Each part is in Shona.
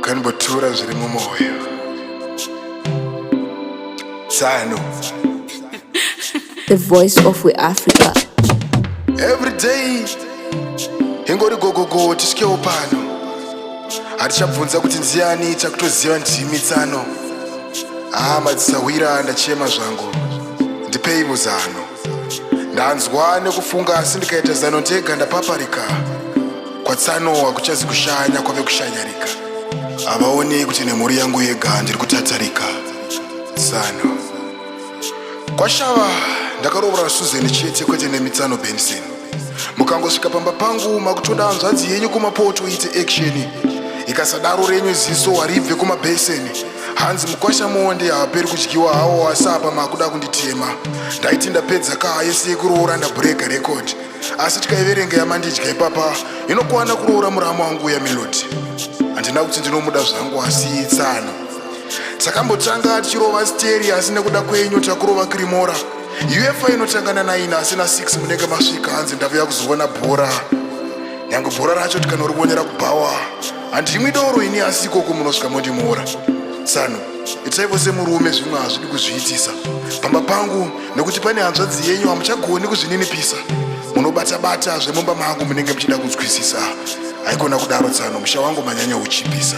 Kanbotura zviri mumwoyo Sano The voice of we Africa. Every day ingori gogogo tisvikewo pano hatichabvunza kuti ndiani takutoziva ndimi tsano haa madzisahwira ndachema zvangu ndipeivo zano ndanzwa nekufunga asi ndikaita zano ndega ndapaparika kwatsanowa kuchazi kushanya kwave kushanyarika havaonei kuti nemhuri yangu yega ndiri kutatarika tsano kwashava ndakaroora suzeni chete kwete nemitsano benson mukangosvika pamba pangu makutoda hanzvadzi yenyu kumapoto ite action ikasadaro renyu ziso haribve kumabheseni hanzi mukwasha monde haaperi kudyiwa hawo asi apa makuda kunditema ndaiti ndapedza kaa yese yekuroora ndabreeka record asi tikaiverenga yamandidya ipapa inokwana kuroora murama wangu uya melodi handina kuti ndinomuda zvangu asi itsano takambotanga tichirova steri asi nekuda kwenyu takurova kirimora UEFA inotanga na 9 asi na 6 munenge masvika hanzi ndavuya kuzoona bhora nyange bhora racho tikanoriwonera kubhawa handi imwe doro ini asi ikoko munosvika mondimora tsano itaivo semurume zvimwe hazvidi kuzviitisa pamba pangu nekuti pane hanzvadzi yenyu hamuchagoni kuzvininipisa munobata-bata zvemumba mangu munenge muchida kunzwisisa haikona kudaro tsano musha wangu manyanya uchipisa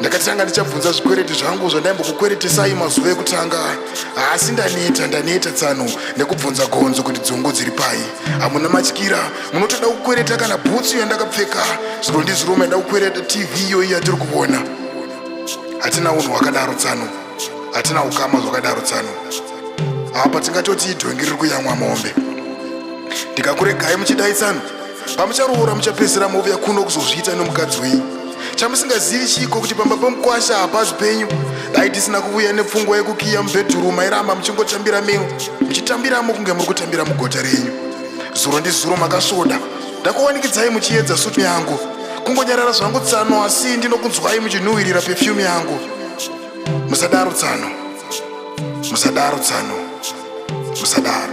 ndakati tanga ndichabvunza zvikwereti zvangu zvandaimbokukweritisai mazuva ekutanga haasi ndaneta ndaneta tsano nekubvunza gonzo kuti dzungu dziri pai hamuna matyira munotoda kukwereta kana bhutsu yandakapfeka zviro ndizviro maida kukwereta tv iyoyi yatiri kuvona hatina unhu hwakadaro tsano hatina ukama zvakadaro tsano apa tingatoti idhongi riri kuyamwa mombe ndikakuregai muchidai tsano pamucharoora muchapedzera mouya kuno kuzozviita nomukadzi wenyu chamusingazivi chiiko kuti pamba pomukwasha hapazi penyu dai tisina kuvuya nepfungwa yekukiya mubhedhuru mairamba muchingotambira mino muchitambiramo kunge muri kutambira mugota renyu zuro ndizuro makasvoda ndakuwanikidzai muchiedza sutu yangu kungonyarara zvangu tsano asi ndinokunzwai muchinhuhwirira pefyumu yangu musadaro tsano musadaro tsano musadaro